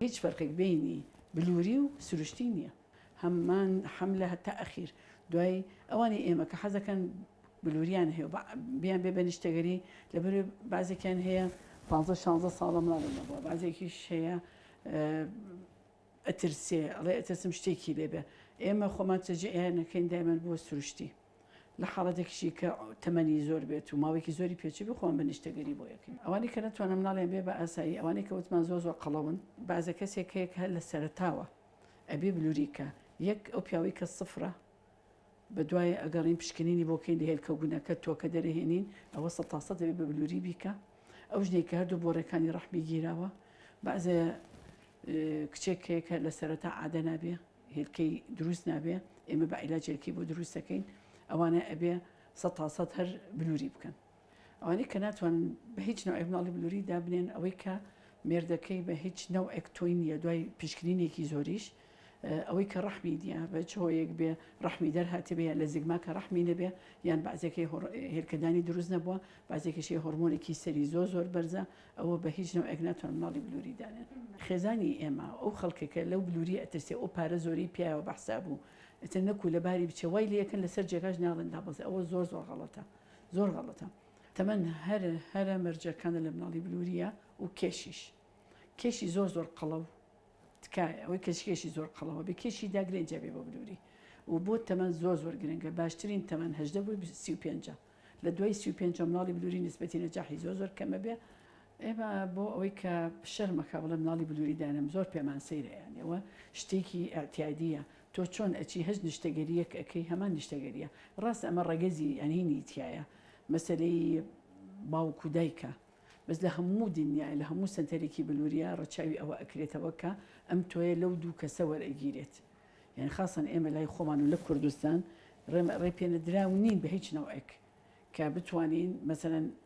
هیچ فەرقێک بەینی بلوری و سروشتی نیە هەمان حەملە هەتا ئەخیر دوای ئەوانی ئێمە کە حەزەکەن بلوریان هەیە بیان بێ بەنیشتەگەری لەبەر بازێکیان هەیە 15 16 ساڵە مناڵی نەبووە بازێکیش هەیە ئەترسێ ئەڵێ ئەترسم شتێکی لێ بێ ئێمە خۆمان چەجێ ئێانەکەین دایمەن بۆ سروشتی لە حاڵەتێکشی کە تەمەنی زۆر بێت و ماوەێکی زۆری پێچوی بخۆم بە نیشتەگەری بۆ یەکەین ئەوانی کە نەتوانم ناڵێن بێ بە ئاسایی ئەوانی کە وتمان زۆ زۆر قەڵەون بازە کەسێک هەیە هەر لە سەرتاوە ئەبێ بلووریکە یەک ئەو پیاوی کە سفرە بەدوای ئەگەڕین پشکنینی بۆ بکەین لە هێلکە و گونەکە تۆکە دەرەهێنین ئەوە سەد تا سەد دەبێت بە بلوری بیکە ئەو ژنێک کە هەردوو بۆڕەکانی ڕەحمی گیراوە بەعزێ کچێک هەیە کە لە سەرەتا عادە نابێ هێلکەی دروست نابێ ئێمە بە عیلاجێکی بۆ دروستەکەین ئەوانە ئەبێ سە تا سەد هەر بلوری بکەن ئەوانەی کە ناتوانن بە هیچ نەوعێک منداڵی بلووری دابنێن ئەوەی کە مێردەکەی بە هیچ نەوعێک تۆی نییە دوای پشکنینێکی زۆریش ئەوەی کە ڕەحمی دیە بە چۆیەک بێ ڕەحمی دەرهاتێ بێ لە زیگما کە ڕەحمی نەبێ یان بازێکی هێلکەدانی دروست نەبووە بازێکیشی هۆرمۆنێکی سەری زۆر زۆر بەرزە ئەوە بە هیچ نەوەک ناتوان مناڵی بلووری دانێن خێزانی ئێمە ئەو خەڵکەکە لەو بلووری ئەترسێ ئەو پارە زۆری پیاوە بەحسا بوو ئەتە نەکو لەباری بچێ وای لەکەن لەسەر جێگاش ناڵێن دابڵێ ئەوە زۆر زۆر غەڵەتە زۆر غەڵەتە تەمەن هەر هەرە مەرجەکانە لە مناڵی بلوریە و کێشیش کێشی زۆر زۆر قەڵەو تکایە ئەوەی کەشکێشی زۆر قەڵەوە بە کێشی داگرێنجە بێ بۆ بلوری و بۆ تەمەن زۆر زۆر گرنگە باشترین تەمەن هەدە بۆ سی پێنج لە دوای سی پێنج مناڵی بلوری نسبەتی نەجاحی زۆر زۆر کەمە بێ ئێمە بۆ ئەوەی کە شەرمەکە بڵێ مناڵی بلوری دانم زۆر پێمان سەیرەیانەوە شتێکی ئەتیادیە تۆ چۆن ئەچی هەچ نیشتەگەریەک ئەکەی هەمان نیشتەگەریە ڕاستە ئەمە ڕەگەزی ئەنینی تیایە مەسەلەی باوک و دایکە بەس لە هەموو دنیایە لە هەموو سەنتەرێکی بلوریا ڕەچاوی ئەوە ئەکرێتەوە کە ئەم تۆیە لەو دوو کەسە وەرئەگیرێت یان خاصەن ئێمە لای خۆمان و لە کوردستان ڕێ پێنەدراو نین بە هیچ نەوەک کە بتوانین مەسەن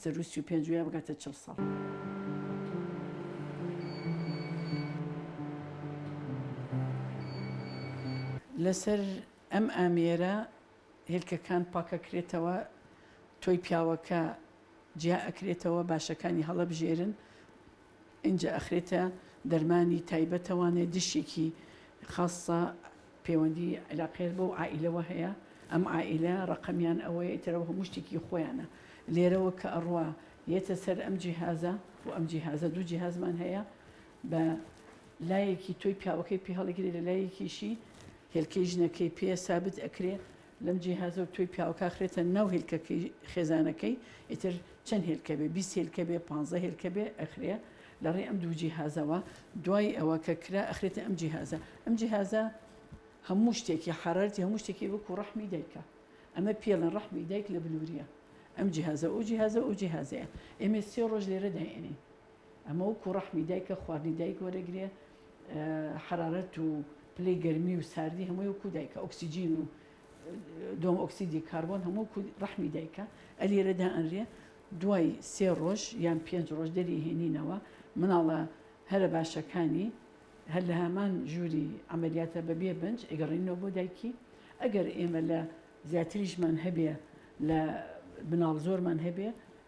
سەروو سی و پێنج وێ بگاتە چڵ ساڵ. لەسەر ئەم ئامێرە هێلکەکان پاکەکرێتەوە تۆی پیاوەکە جیا ئەکرێتەوە باشەکانی هەڵەبژێرن ئینجا ئەخرێتە دەرمانی تایبەتەوانێ دشێکی خاصە پێوەندی عیلاقەیەت بەو عائیلەوە هەیە ئەم عائیلە ڕەقەمیان ئەوەیە ئیتر ئەوە هەموو شتێکی خۆیانە لێرەوە کە ئەڕوا یەتە سەر ئەم جیهازە و ئەم جیهازە دوو جیهازمان هەیە بە لایەکی تۆی پیاوەکەی پێ هەڵیگرێ لە لایەکیشی هێلکەی ژنەکەی پێ سابت ئەکرێ لەم جیهازەو تۆی پیاوکا خرێتە ناو هێلکەکەی خێزانەکەی ئیتر چەند هێلکە بێ بیست هێلکە بێ پانزە هێلکە بێ ئەخرێ لە ڕێ ئەم دوو جیهازەوە دوای ئەوە کە کرا ئەخرێتە ئەم جیهازە ئەم جیهازە هەموو شتێکی حرارتی هەموو شتێکی وەکو ڕحمی دایکە ئەمە پێڵە ڕحمی دایک لە بلووریە ئەم جیهازە ئەو جیهازە ئەو جیهازەیە ئێمە سێ ڕۆژ لێرە داێنین ئەمە وەکو ڕەحمی دایکە خواردنی دایک وەرەگرێ حەرارەت و پلەی گەرمی و ساردی هەمووی وەکو دایکە ئۆکسسیجین و دۆم ئۆکسسیدی کاربۆن هەموو ڕەحمی دایکە ئەلیێرەدا ئەنرێ دوای سێ ڕۆژ یان پێنج ڕۆژ دەری هێنینەوە مناڵە هەرە باشەکانی هەر لە هەمان ژووری ئەمەلیاتە بەبێ بنج ئەگەڕینەوە بۆ دایکی ئەگەر ئێمە لە زیاتریشمان هەبێ لە بناڵ زۆرمان هەبێ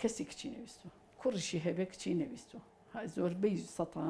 کەسی کچی نەویستوە کوڕیشی هەبێ کچی نەویستوە ها زۆربەی سەتا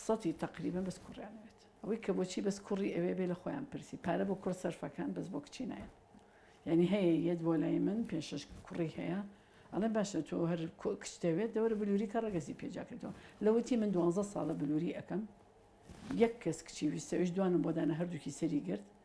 سەتی تەقریبە بەس کوڕیانەوێت ئەوەی کە بۆچی بەس کوڕی ئەوێ بێ لە خۆیان پرسی پارە بۆ کوڕ سەرفەکان بەس بۆ کچی نایەن یعنی هەیە یەت بۆ لای من پێشش کوڕی هەیە ئەڵێ باشە تۆ هەر کچ دەوێت دەوەرە بلووری کە ڕگەزی پێجا کردەوە لەوەتی من دوانزە ساڵە بلووری ئەەکەم یەک کەس کچی ویستەویش دوانم بۆدانە هەردووکی سەری گرت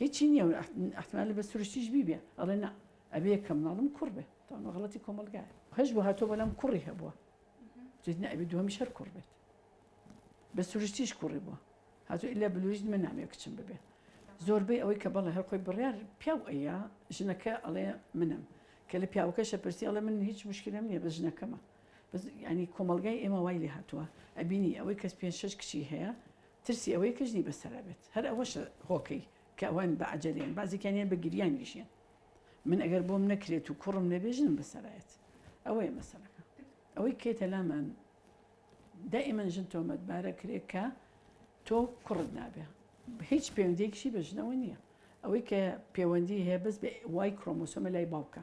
هیچی نیە و ئەحتمالە بە سروشتیش بیبێ ئەڵێ نا ئەبێ کە مناڵم کوڕ بێ تەمە غەڵەتی کۆمەڵگایە هەش بۆ هاتۆ بەلام کوڕی هەبووە جد نابێ دووەمیش هەر کوڕ بێت بە سروشتیش کوڕی بووە هاتو ئللا بلوریت من نامێ کچم ببێ زۆربەی ئەوەی کە بەڵێ هەر خۆی بڕیار پیاو ئەیە ژنەکە ئەڵێ منم کە لە پیاوەکەشە پرسی ئەڵێ من هیچ مشکلم نییە بە ژنەکەمە ینی کۆمەلگای ئێمە وای لێ هاتووە ئەبینی ئەوەی کەس پێ شش کچی هەیە ترسی ئەوەی کەژنی بەسەرا بێت هەر ئەوەشە هۆکەی کە ئەوان بە عەجەلەیەن بازێکیان هەیە بە گریان یژیان من ئەگەر بۆم نەکرێت و کوڕم نەبێ ژنم بەسەرایەت ئەوەیە مەسەلەکە ئەوەی کەیتە لامان دائیمەن ژن تۆمەت بارە کرێ کە تۆ کوڕت نابێ هیچ پەیوەندێکیشی بە ژنەوە نییە ئەوەی کە پەیوەندی هەیە بەس بە وای کرۆمۆسۆمە لای باوکە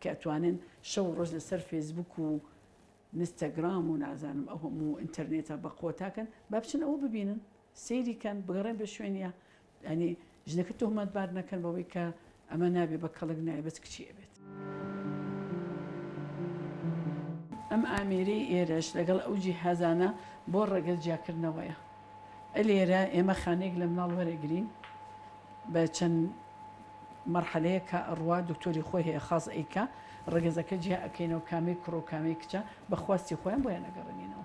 کە ئەتوانن شەو و ڕۆژ لەسەر فێسبوک و نستەگرام و نازانم ئەو هەموو ئینتەرنێتە بە قۆتاکەن با بچن ئەوە ببینن سەیری کەن بگەڕێن بە شوێنیا ئەنی ژنەکە تۆمەت بار نەکەن بەوەی کە ئەمە نابێ بە کەڵک نایە بەس کچی ئەبێت. ئەم ئامێرەی ئێرەش لەگەڵ ئەو جیهازانە بۆ ڕەگەز جیاکردنەوەیە. لێرە ئێمە خانەیەک لە مناڵ وەرەگرین بە چەند مەرحەلەیە کە ئەڕوا دکتۆری خۆی هەیە خاز ئەیکا ڕگەزەکە جیا ئەکەینەوە کامەی کوڕۆ کامەی کچە بەخواستی خۆیان بۆیان ئەگەڕێنینەوە.